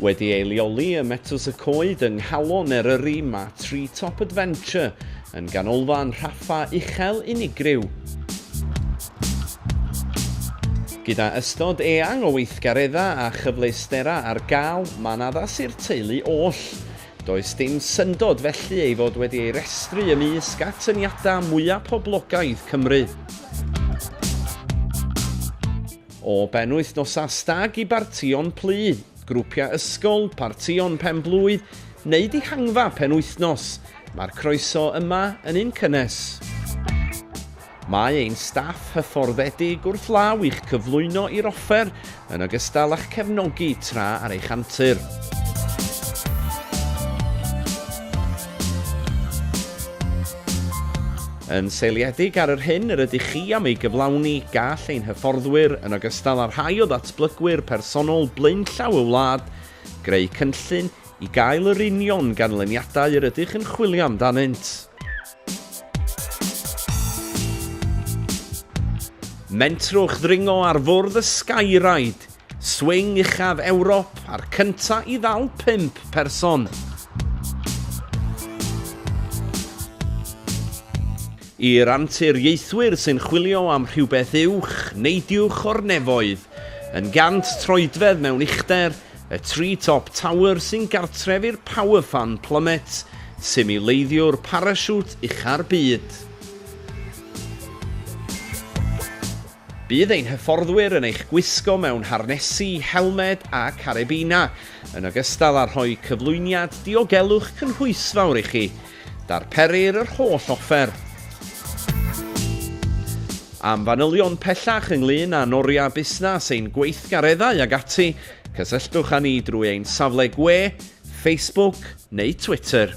Wedi ei leoli ym Metws y Coed yng Nghalon Eryri, mae Tree Top Adventure yn ganolfan rhaffa uchel unigryw. Gyda ystod eang o weithgareddau a chyfleusterau ar gael, mae'n addas i'r teulu oll. Does dim syndod felly ei fod wedi ei restru ymysg atyniadau mwyaf poblogaidd Cymru. O benwythnosau stag i bartïon plwyf, grwpiau ysgol, partïon pen-blwydd neu dihangfa penwythnos, mae'r croeso yma yn un cynnes. Mae ein staff hyfforddedig wrth law i'ch cyflwyno i'r offer yn ogystal â'ch cefnogi tra ar eich antur. Yn seiliedig ar yr hyn yr ydych chi am ei gyflawni, gall ein hyfforddwyr, yn ogystal â rhai o ddatblygwyr personol blaenllaw y wlad, greu cynllun i gael yr union ganlyniadau yr ydych yn chwilio amdanynt. Mentrwch ddringo ar fwrdd y Skyride Swing uchaf Ewrop a'r cyntaf i ddal pump person. I'r anturiaethwyr sy'n chwilio am rhywbeth uwch, neidiwch o'r nefoedd, yn gant troedfedd mewn uchder, y Tree Top Tower sy'n gartref i'r Power Fan Plummet, simileiddiwr parasiwt ucha'r byd. Bydd ein hyfforddwyr yn eich gwisgo mewn harnesi, helmed a carebinau, yn ogystal â rhoi cyflwyniad diogelwch cynhwysfawr i chi. Darperir yr holl offer. Am fanylion pellach ynglŷn â'n oriau busnes, ein gweithgareddau ag ati, cysylltwch â ni drwy ein safle gwe, Facebook neu Twitter.